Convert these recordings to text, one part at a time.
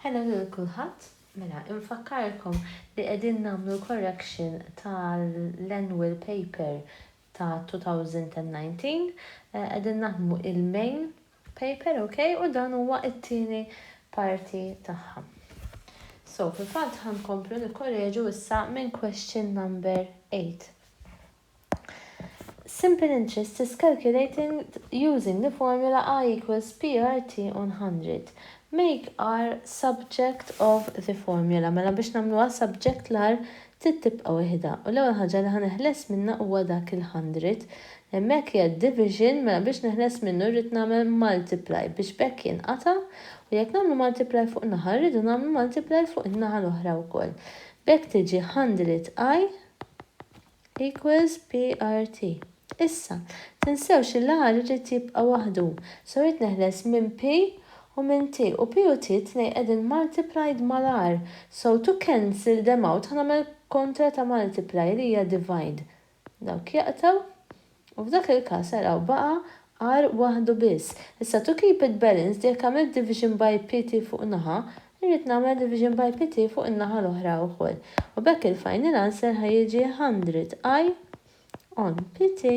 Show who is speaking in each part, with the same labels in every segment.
Speaker 1: Ħela lil kulħadd, mela infakkarkom li qegħdin nagħmlu l-correction tal-annual paper ta' 2019, qegħdin naħdmu il-main paper ok u dan huwa t-tieni parti tagħha. So fil-fatt ħa nkomplu nikkoreġu issa minn question number 8. Simple interest is calculating using the formula I equals PRT on 100. Make R subject of the formula. Mela biex nagħmluha subject l-R trid tibqa' wieħda u l-ewwel ħaġa li ħa neħles minnha huwa dak il-100. Hemmhekk hija division mela biex neħles minnu rrid nagħmel multiply biex b'hekk jinqata' u jekk nagħmlu multiply fuq naħa rridu nagħmlu multiply fuq in-naħa l-oħra wkoll. B'hekk tiġi 100 I Equals PRT. Issa, tinsewx li l-R irid jibqa' waħdu, so rrid neħles minn P u minn T, u P u T t-tnejn qegħdin multiplied mal-R, so to cancel them out ħa nagħmel kontra ta' multiply li hija divide. Dawk jaqtgħu. U f'dak il-każ araw baqa' għar waħdu biss. Issa to keep it balanced jekk għamilt division by pt fuq naħa, irrid nagħmel division by pt fuq in-naħa l-oħra wkoll. U b'hekk il-final answer ħa jiġi 100 i on pt.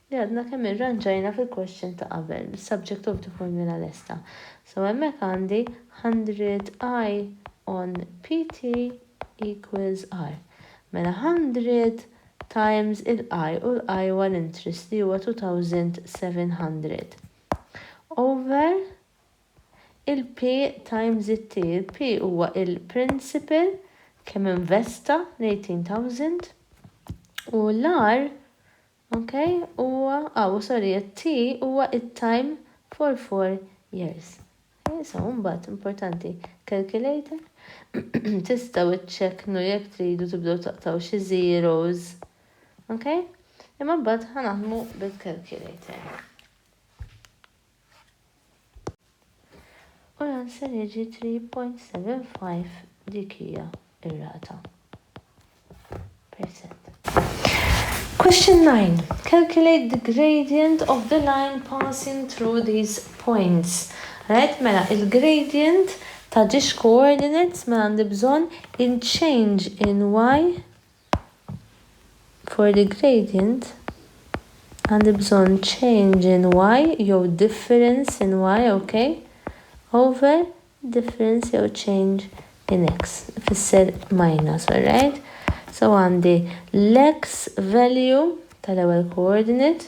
Speaker 1: li għadna kemm irranġajna fil-question ta' qabel, bis-subject of the formula lesta. So hemmhekk għandi 100 I on PT equals R. Mela 100 times il-I, u l-I huwa l-interest li huwa 2700, over il-P times it-T, il-P huwa il-principal kemm investa l-18,000, u l-R Ok huwa aw sorry it-T huwa it-time for four years. Ok so mbagħad importanti calculator tistgħu ċċekknu jekk tridu tibdew taqtgħu xi zeros. Ok? Imma mbagħad ħa naħdmu bil-calculator. U l-answer jiġi 3.75 dik hija r-rata. Percent. Question 9. Calculate the gradient of the line passing through these points. Right? Mela, il-gradient ta' ġiex coordinates ma mela għandi bżonn in change in y For the gradient, għandi bżonn change in y jew difference in y, ok, over difference jew change in x, ifisser minus, alright? So għandi l-x value tal-ewwel coordinate,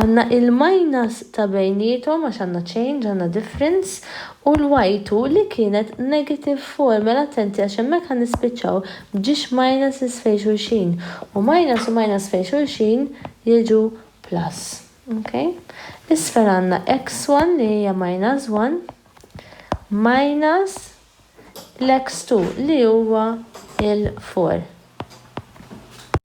Speaker 1: Għandna il-minus ta' bejniethom għax għandna change, għandna difference, u l-y2 li kienet negative 4, mela attenti għax hemmhekk ħa nispiċċaw b'ġiex minuses fejn xulxin, u minus u minus fejn xulxin jiġu plus. Ok? Isfel għandna x1 li hija minus 1 minus l-x2 li huwa il-4.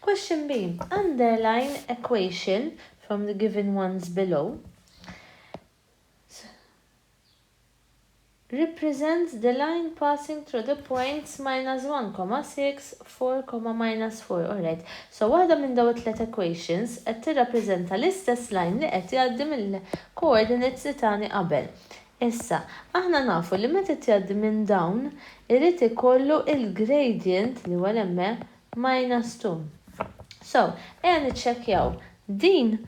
Speaker 1: Question B. Underline equation from the given ones below represents the line passing through the points minus 1, 6, 4, minus 4. Alright, so waħda minn daw it-tlet equations qed tirrappreżenta l-istess line li qed jgħaddi mill-coordinates li tani qabel. Issa, aħna nafu li meta qed jgħaddi minn dawn, irid ikollu il-gradient li huwa l-ME minus 2. So, ejja niċċekkjaw. Din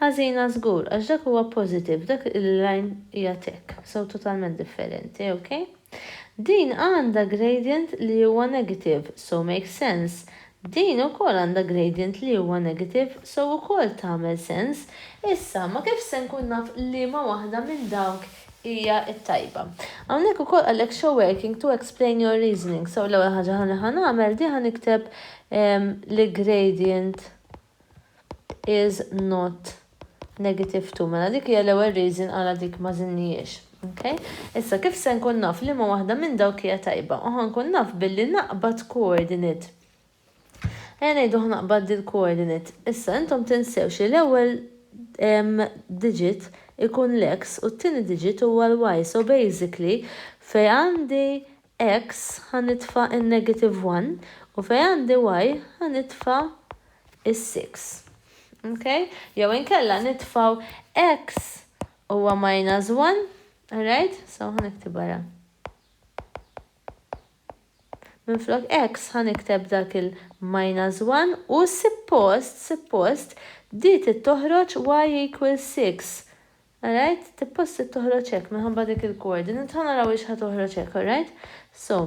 Speaker 1: ħażina żgur għax dak huwa positive, dak il-line hija tick, so totalment differenti, ok? Din għandha gradient li huwa negative, so makes sense Din ukoll għandha gradient li huwa negative so ukoll tagħmel sens. Issa, ma kif se nkun naf liema waħda minn dawk hija t-tajba? Hawnhekk ukoll qalek show working to explain your reasoning so l-ewwel ħaġa ħa li ħa nagħmel di ħa nikteb li gradient is not Negative two, mela dik hija l-ewwel reason għala dik ma żidnihiex. Ok? Issa kif se nkun naf liema waħda minn dawk hija tajba? U ħa nkun naf billi naqbad coordinate. Ejja ngħidu ħa naqbad dil-coordinate. Issa intom tinsewx li l-ewwel digit ikun l-X u t-tieni digit huwa l-Y. So basically fejn għandi X ħa nitfa' n-negative one u fejn għandi y ħa nitfa' is-six. Okay? Jew inkella nitfgħu x huwa minus one, alright? So ħa niktibha ra. Minflok x ħa nikteb dak il-minus one u sippost, sippost, di trid toħroġ y equals six. Alright? Tippost toħroġ hekk minħabba dik il-coordinate. Ħa naraw hix ħa toħroġ hekk, alright? So,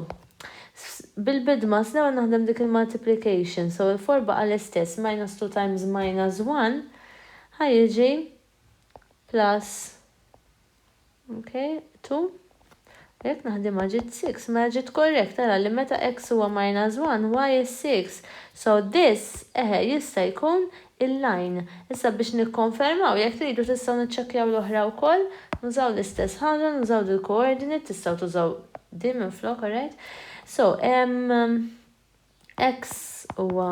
Speaker 1: bil-bidma s l-ewwel naħdem dik il-multiplication, so il-4 baqa' l-istess, minus 2 times minus 1 ħa jiġi plus, okay, 2. Jekk naħdimha ġiet six, mela ġiet correct, ara li meta x huwa minus one, y is six. So this, eħe, jista' jkun il-line. Issa biex nikkonfermaw, jekk tridu tistgħu niċċekkjaw l-oħra wkoll, nużaw l-istess ħaġa, nużaw dil-coordinate, tistgħu tużaw din minflok, alright? So, x huwa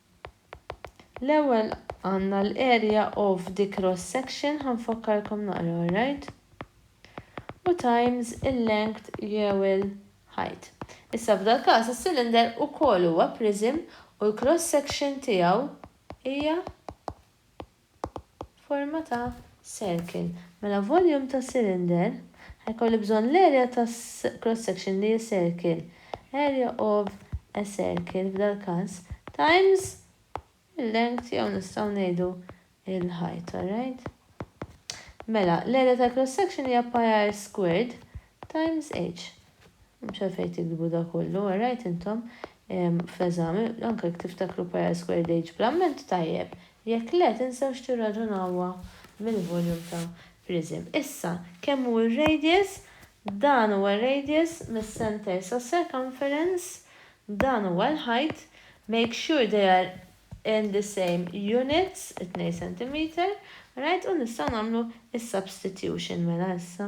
Speaker 1: L-ewwel għandna l-area of the cross section, ħa nfakkarkom naqra alright, u times il-length jew il-height. Issa f'dal-każ is-cylinder ukoll huwa prism u l-cross section tiegħu hija forma ta' circle. Mela volume ta' cylinder ħa jkolli bżonn l-area ta' cross section li hi circle, area of a circle f'dal-każ, times il-length jew nistgħu ngħidu il-height, alright? Mela l-area tal-cross section hija pi r squared Times Age. M'hemmx għalfejn tiktbu dak kollu, erajt intom fl-eżami, anke jekk tiftakru Pi-R Squared Age bl-amment tajjeb, jekk le tinsew x'tirraġunawha mill-volume ta' prism. Issa, kemm hu r-radius? Dan huwa r-radius mis-center sas-circumference, dan huwa l-height, make sure they are in the same units, it-tnejn centimeter, right, u nistgħu nagħmlu s-substitution mela issa.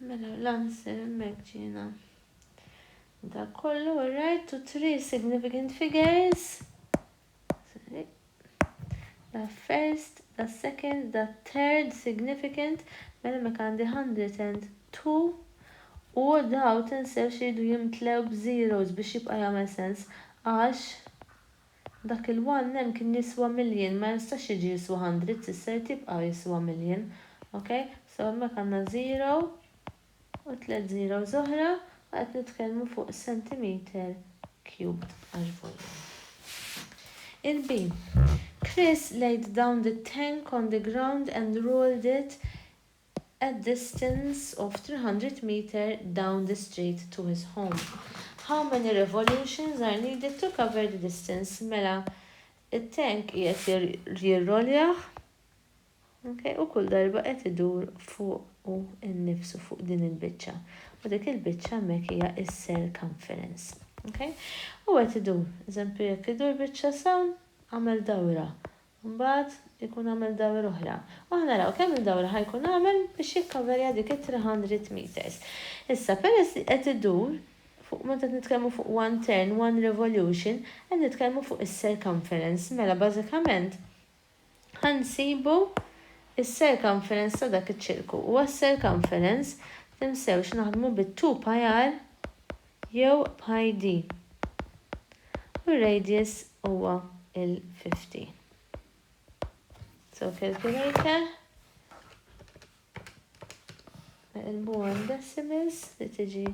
Speaker 1: Mela l-answer hemmhekk ġiena. Dak kollu alright to three significant figures. Sorry. Da first, da second, da third significant, mela hemmhekk għandi 102 u daw tinsewx iridu jimtlew b'zeros biex jibqa' jagħmel sens għax Dak il one hemm kien jiswa million ma jistax jiġi jiswa hundred s'issa jrid jibqa' jiswa million ok so hemmhekk għandna zero u tliet zeros oħra u qed nitkellmu fuq centimeter cubed għax volume. Il B. Chris laid down the tank on the ground and rolled it a distance of 300 meter down the street to his home. How many revolutions are needed to cover the distance? Mela, it-tank qiegħed jirroljah, ok, u kull darba qed idur fuqu nnifsu, fuq din il-biċċa. U dik il-biċċa hemmhekk hija s-circumference. Ok? U qed idur. Eżempju, jekk idur biċċa s'hawn, għamel dawra. Mbagħad ikun għamel dawir oħra. U ħa naraw kemm il-dawra ħa jkun għamel biex jikkaverja dik it-three hundred metres. Issa, peress li qed idur, fuq meta qed nitkellmu fuq one turn, one revolution, qed nitkellmu fuq is-circumference. Mela bażikament ħa nsibu s-circumference ta' dak iċ-ċirku. U għas-circumference, tinsewx naħdmu bit-two pi r jew b'HID, u r-radius huwa l-50. So calculator, neqilbuha għal decimals li tiġi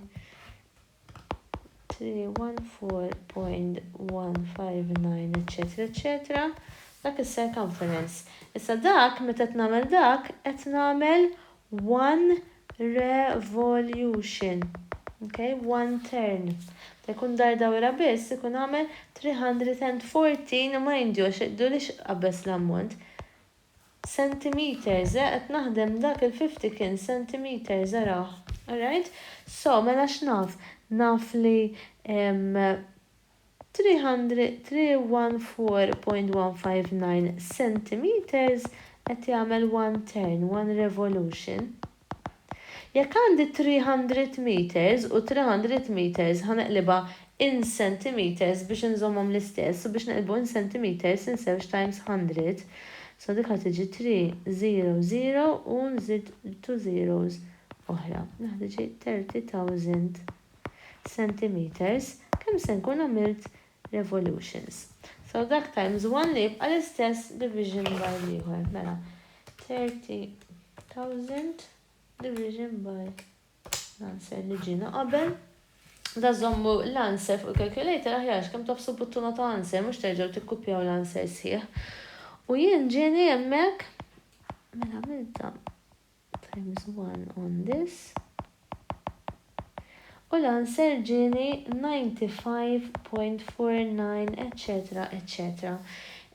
Speaker 1: 314.159 eċċetera eċċetera, dak is-circumference. Issa dak meta qed nagħmel dak qed nagħmel 1 Revolution, ok, one turn. Meta jkun dar dawra biss ikun għamel 314 u ma jindjox iqdu li x'qabeż l-ammont. Centimetres, eh, qed naħdem dak il-fifty kien centimetres, araħ. Alright? So, mela x'naf? Naf li, ehm. 314.159 centimetres qed jagħmel one turn, one revolution. Jekk għandi 300 metres u 300 metres ħa neqlibha in centimetres biex inżommhom l-istess u biex neqlbu in centimetres inżewġ times hundred so dik ħa tiġi three zero zero u nżid two zeros oħra. Dik ħa tiġi thirty thousand. centimetres kemm se nkun għamilt revolutions. So dak times one li jibqa' l-istess division by l-ieħor. Mela 30,000 division by l-answer li ġiena qabel. Da żommu l-answer fuq il-calculator aħjar kemm tofsu buttuna ta' answer mhux terġgħu tikkupjaw l-answer sħiħ. U jien ġieni hemmhekk mela għamilta times one on this u l-answer ġieni 95.49 etcetera etcetera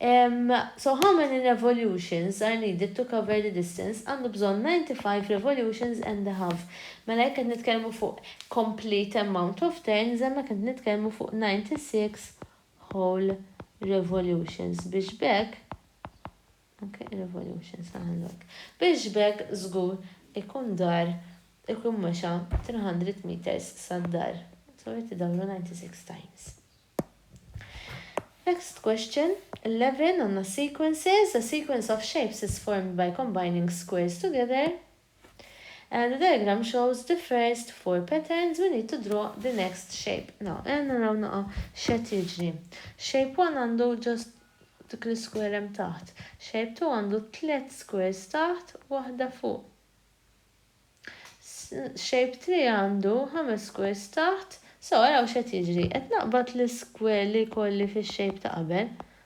Speaker 1: Ehm so how many revolutions are needed to cover the distance għandu bżonn 95 revolutions and a half mela jekk qed nitkellmu fuq complete amount of turns hemmhekk qed nitkellmu fuq 96 whole revolutions biex b'hekk Anke ir-revolution sa minn hekk. Biex b'hekk żgur ikun dar ikun mexa 300 meters sad-dar. Sorry qed idawru 96 times. Next question, 11 għandna sequences, a sequence of shapes is formed by combining squares together. And the diagram shows the first four patterns, we need to draw the next shape. Now, ejja naraw naqa' x'qed jiġri. Shape one għandu just dik l-isquare hemm taħt. Shape two għandu tliet squares taħt u waħda fuq. Shape three għandu ħames squares taħt. So, araw x'qed jiġri. Qed naqbad l-isquare li jkolli fix-shape ta' qabel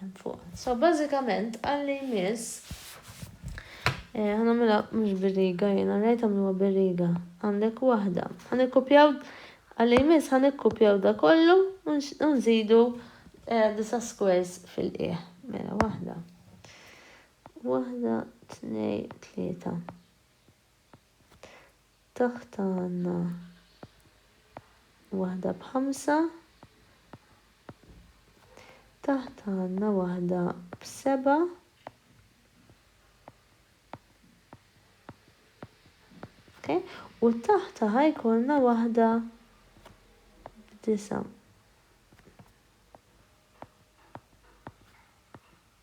Speaker 1: hemm fuq. So bażikament għalli jmiss eh, ħanamilha mhux bir-riga jiena rajt għamluha bir-riga. Għandek waħda. Ħanikkupjaw għalli jmiss ħanikkupjaw da kollu u nżidu eh, disa squares fil-qiegħ. Mela waħda. Waħda, tnej, tlieta. Taħt għandna waħda b'ħamsa. Taħt għandna waħda b'seba'. Okay? U taħta ħajkolna waħda b'disa'.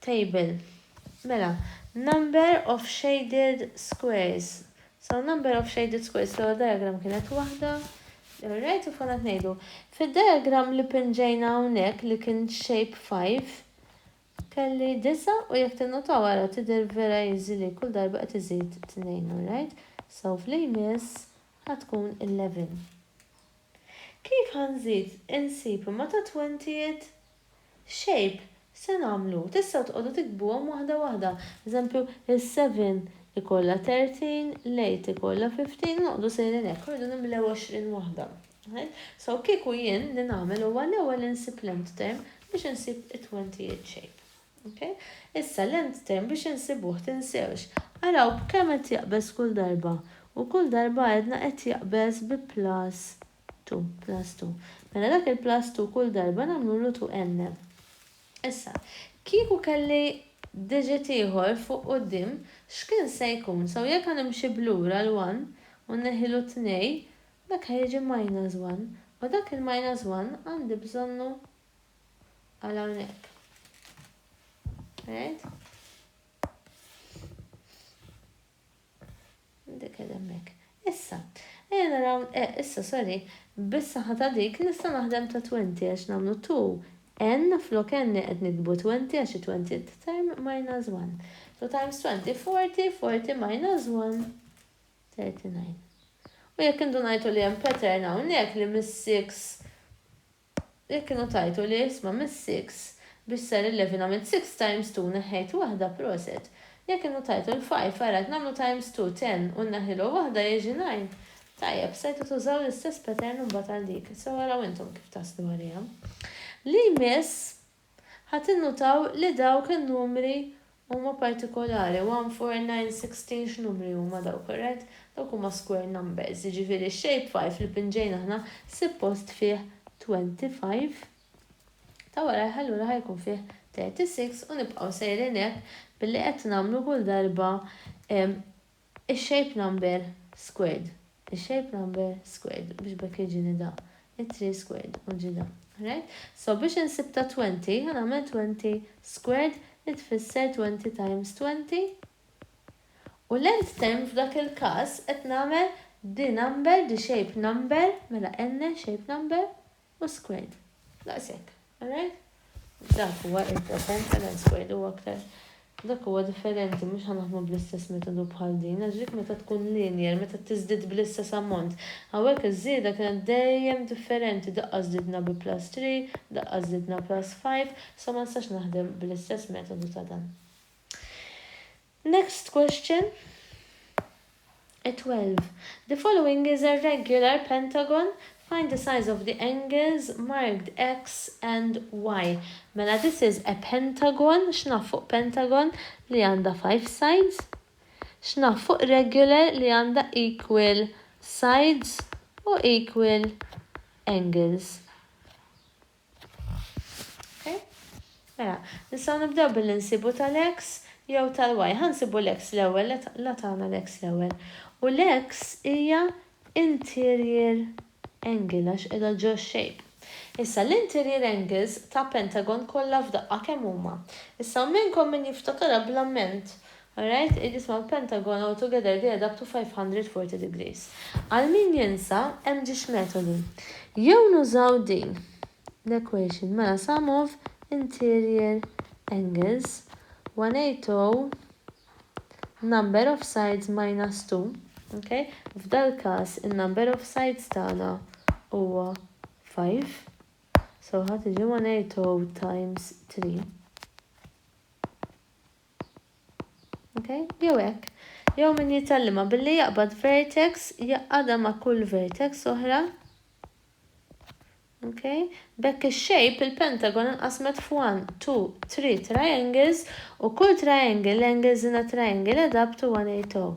Speaker 1: table, mela, number of shaded squares, so number of shaded squares, l-ewwel diagram kienet waħda, alright, u f'għana tnejdu. Fid-diagram li pinġejna hawnhekk li kien shape 5, kelli disa' u jekk tinnotaw ara tidher vera easy li kull darba qed iżid tnejn, alright? So f'li jmiss ħa tkun 11. Kif ħa nżid insib imma ta' twentijiet shape, se nagħmlu? Tistgħu tqogħdu tiktbuhom waħda waħda. Eżempju, is-seven ikollha thirteen, l-eight ikollha fifteen u noqogħdu sejrin hekk u rridu nimlew għoxrin waħda. So kieku jien li nagħmel huwa l-ewwel insib l-end term biex insib it-twentieth shape. Okay? Issa l-end term biex insibuh tinsewx. Araw b'kemm qed jaqbeż kull darba. U kull darba għedna qed jaqbeż bi plus 2, plus 2. Mela dak il-plus 2 kull darba nagħmlulu 2n. Issa, kieku kelli digit ieħor fuq quddiem, x'kien se jkun? So, jekk ħa nimxi b'lura l-one u nneħħilu t-tnej, dak ħa jiġi minus one. U dak il-minus one għandi bżonnu għal hawnhekk. Alright? Dik hemmhekk. Issa, ejja naraw, eh, issa, sorry, bis-saħħa ta' dik nista' naħdem ta' twenty għax nagħmlu two n flok n qed niktbu twenty għax it-twenty term minus one. So times twenty, forty, forty minus one, thirty nine. U jekk indunajtu li hemm pattern hawnhekk li mis-six Jekk kienu tajtu li isma mis six biex sar il-levy nagħmel six times two neħħejt waħda proset. Jekk kienu tajtu l five ara qed nagħmlu times two ten u nneħħilu waħda jiġi nine. Tajjeb stajtu tużaw l-istess pattern imbagħad għal dik. Sew araw intom kif taslu għaliha. Li jmiss. Ħa tinnutaw li dawk in-numri huma partikolari, 1, 4, 9, 16 x'numri huma dawk, alright? Dawk huma square numbers, jiġifieri x-shapefile li pinġejna aħna sippost fih 25, ta' warajh allura ħa jkun fih 36 u nibqgħu sejrin hekk billi qed nagħmlu kull darba Ix-shape number squared Ix-shape number squared biex b'hekk jiġini da. It-three squared u ġie da. Right? So biex insib ta' twenty ħa nagħmel twenty squared li tfisser twenty times twenty u l-nth term f'dak il-każ qed nagħmel the number the shape number mela n-shape number u squared. Daqshekk, alright? Dak huwa il-present ta' dan squared u aktar dak huwa differenti mhux ħanaħdmu bl-istess metodu bħal din għax dik meta tkun linear, meta tiżdied bl-istess ammont. Hawnhekk iż-żieda kienet dejjem differenti, daqqa żdidna bi plus three, daqqa żdidna plus five, so ma nistax naħdem bl-istess metodu ta' dan. Next question, a 12. The following is a regular pentagon, find the size of the angles marked X and Y. Mela this is a pentagon, x'naf fuq pentagon li għandha five sides? X'naf fuq regular li għandha equal sides u equal angles? Okay? Mela, nistgħu nibdew billi nsibu tal-x jew tal-y. Ħa nsibu l-x l-ewwel, la tagħna l-x l-ewwel. U l-x hija interior angle għax qiegħda ġo shape. Issa l-interior angles ta' pentagon kollha f'daqqa kemm huma? Issa hawn minnkom min jiftakarha bl-amment Alright, hi jisma l-Pentagon all together they adapt to 540 degrees. Għal min jinsa, hemm ġiex metodi. Jew nużaw din l-equation mela sum of interior angles 180 number of sides minus 2, ok, f'dal-każ in-number of sides tagħna huwa 5, so ħa tiġi 180 times 3. Okay? Jew hekk. Jew min jitgħallimha billi jaqbad vertex jaqgħadha ma' kull vertex oħra. Okay? B'hekk ix-shape il-pentagon inqasmet f'one, two, three triangles u kull triangle l-angles in a triangle add up to 180.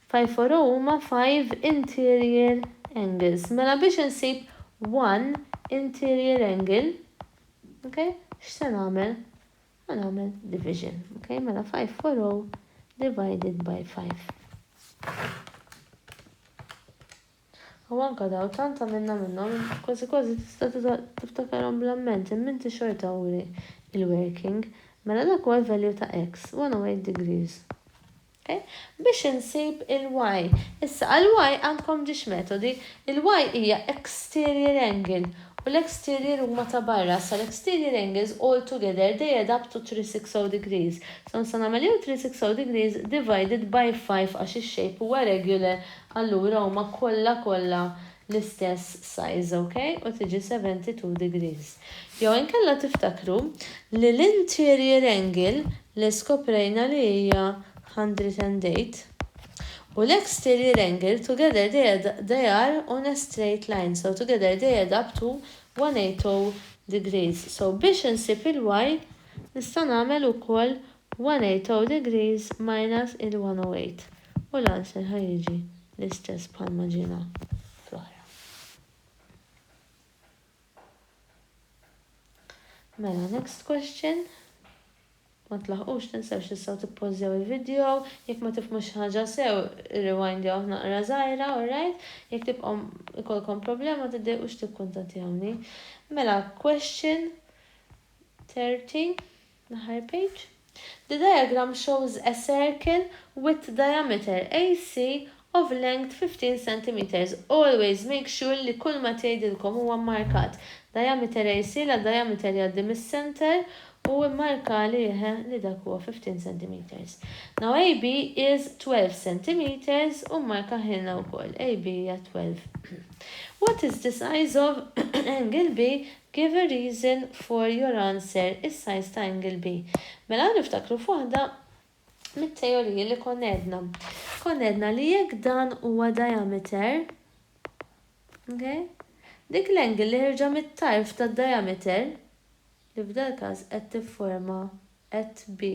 Speaker 1: Five for u huma five interior angles. Mela biex insib one interior angle, ok, x'se nagħmel? Ħa nagħmel division, ok, mela five for u divided by five. U anke daw tant għamilna minnhom kważi kważi tista' tiftakarhom bl-amment imma inti xorta uri il-working. Mela dak huwa l-value ta' X, 108 degrees. Ok? Biex insib il-Y. Issa għall-Y għandkom ġiex metodi. Il-Y hija exterior angle u l-exterior huma ta' barra. Issa l-exterior angles all together they add up to 360 degrees. So nista' nagħmel jew 360 degrees divided by 5 għax ix-shape huwa regular Allura huma kollha kollha l-istess size, ok? U tiġi 72 degrees. Jew inkella tiftakru li l-interior angle li skoprejna li hija 108 u l-exterior angle together they add they are on a straight line so together they add up to 180 degrees. So biex insib il-y nista' nagħmel ukoll 180 degrees minus il-108 u l-answer ħa jiġi l-istess bħalma ġiena fl-oħra. Mela next question. Ma tlaħqux tinsewx tistgħu tippożjaw il-video, jekk ma tifhmux xi ħaġa sew irrewindjawh naqra żgħira, alright? Jekk tibqgħu ikolkom problema tiddejqux tikkuntattjawni. Mela question 30. L-aħħar page. The diagram shows a circle with diameter AC of length 15 centimetres. Always make sure li kull ma tgħidilkom huwa mmarkat. Diameter AC la diameter jgħaddi mis-center u immarka li eħe li dak huwa 15 centimetres. Now AB is 12 centimetres u mmarkahielna wkoll AB hija 12. What is the size of angle B Give a reason for your answer issa jista' Ingleby. Mela niftakru f'waħda mit-teoriji li konna għedna. Konna għedna li jekk dan huwa diameter, ok, dik l-angle li ħerġa mit-tarf tad-diameter, li f'dal-każ qed tifforma at B,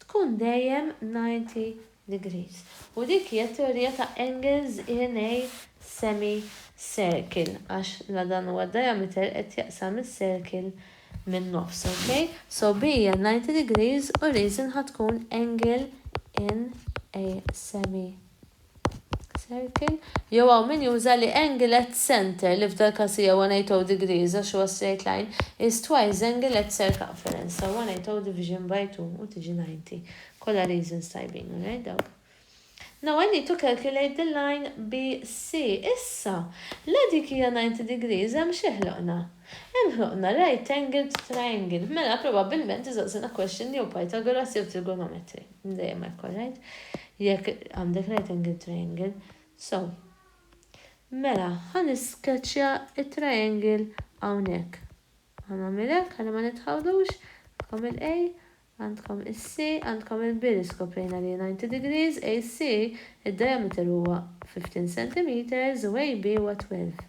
Speaker 1: tkun dejjem 90 degrees. U dik hija t-teorija ta' Engels in a semi circle għax la dan huwa d-diameter qed jaqsam is-circle min-nofs, ok? So B hija 90 degrees u reason ħa tkun angle in a semi Circle, jew hawn min juża li angle at centre, li f'dal każ hija 180 degrees għax huwa straight line, is twice the angle at circumference ta' 180 division by 2 u tiġi 90. Kollha reasons tajbin, alright dawk. Now I need to calculate the line BC. Issa, la dik hija 90 degrees hemm xi ħloqna? Hemm ħloqna right angled triangle. Mela probabbilment iżaqsina question jew Pythagoras jew trigonometry. Dejjem hekk, all right. Jekk għandek right angle triangle. So, mela, ħan isketchja il-triangle għawnek. Għan għamilek, għalli ma nitħawdux, għandkom il-A, għandkom il-C, għandkom il-B li skoprejna li 90 degrees, AC, il-diameter huwa 15 cm u AB huwa 12.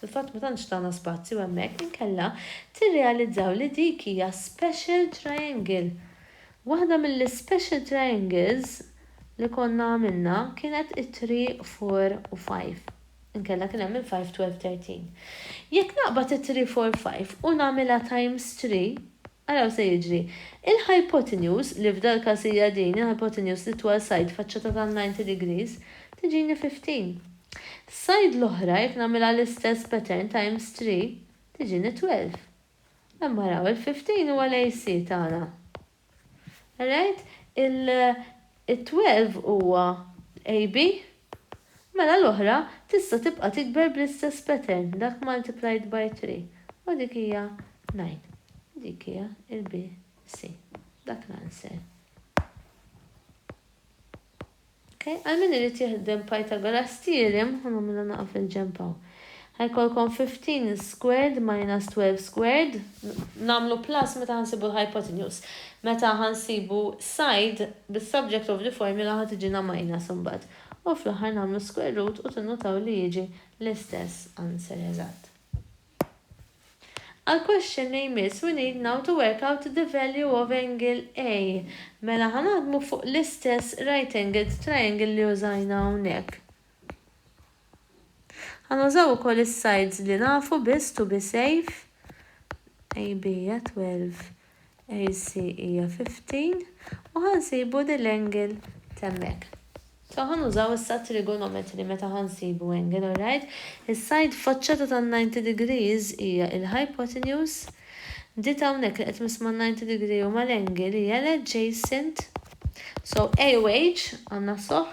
Speaker 1: Fil-fatt ma tantx tana spazju hemmhekk inkella tirrealizzaw li dik hija special triangle. Waħda mill-ispecial triangles li konna għamilna kienet it-three, four u five. Inkella kien hemm il-five, twelve, thirteen. Jekk naqbad it-three, four, five u nagħmilha times three, araw se jiġri. Il-hypotenuse, li f'dal-każ hija din, il-hypotenuse, l-itwal side, faċċata ta' ninety degrees, tiġini fifteen. F'sajd l-oħra jekk nagħmilha l-istess pattern times three tiġini twelve. Hemm araw il-fifteen huwa l-AC tagħna. Alright? Il-twelve huwa l-AB. Mela l-oħra tista' tibqa' tikber bl-istess pattern, dak multiplied by three. U dik hija nine. Dik hija l-BC. Dak l-answer. Ok, għal min irid jiħdem Pythagoras theorem, ħa nagħmilha naqa' fil-ġenb hawn. Ħa jkollkom 15 squared minus 12 squared, nagħmlu plus meta ħa nsibu l-hypotenuse. Meta ħa nsibu side, bis-subject of the formula ħa tiġina minus imbagħad. U fl-aħħar nagħmlu square root u tinnutaw li jiġi l-istess answer eżatt. Għal question li jmiss we need now to work out the value of angle A. Mela ħa naħdmu fuq l-istess right angled triangle li użajna hawnhekk. Ħa nużaw ukoll is-sides li nafu biss to be safe. AB hija 12. AC hija 15 u ħa nsibu li l-angle t'hemmhekk. So ħa nużaw issa t-trigonometry meta ħa nsibu angle, alright? Is-side faċċata tan-90 degrees hija il-hypotenuse. Di t'hawnhekk li qed missma' n-90 degree u mal-angle hija l-adjacent. So A u H għandna soh.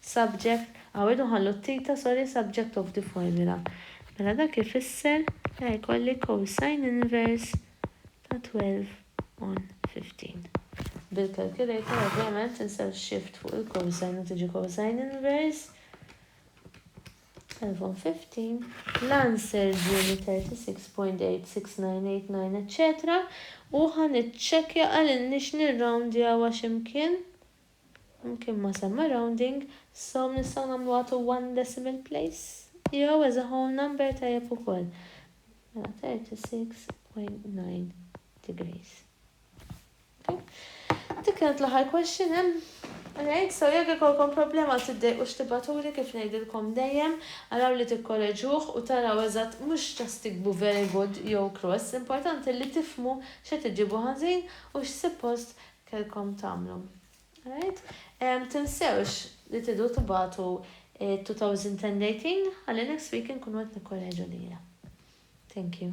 Speaker 1: subject, Aw irridu nħallu t-theta sorry subject of the formula. Mela dak ifisser li ħa jkolli cosine inverse ta' 12 on 15. Bil-calculator ovvjament insew shift fuq il-cosine u tiġi cosine inverse 12 on 15. L-answer ġieni 36.8698 etc. U ħa niċċekkja qalilniex nirroundjawha xi mkien. Mkien ma semma rounding, so nistgħu nagħmluha to one decimal place? Jew as a whole number tajjeb ukoll. Mela 36.9 degrees. Okay? Dik kienet l-aħħar question hemm. Alright, so jekk ikolkom problema tiddejqux tibatuli kif ngħidilkom dejjem, araw li tikkoreġuh u taraw eżatt mhux just tikbu very good jew cross, importanti li tifhmu x'qed iġġibu ħażin u x'sippost kellkom tagħmlu. Alright? Um, tinsewx li tidu tibatu 2010 dating, għalli next week nkunu qed nikkoreġu lila. Thank you.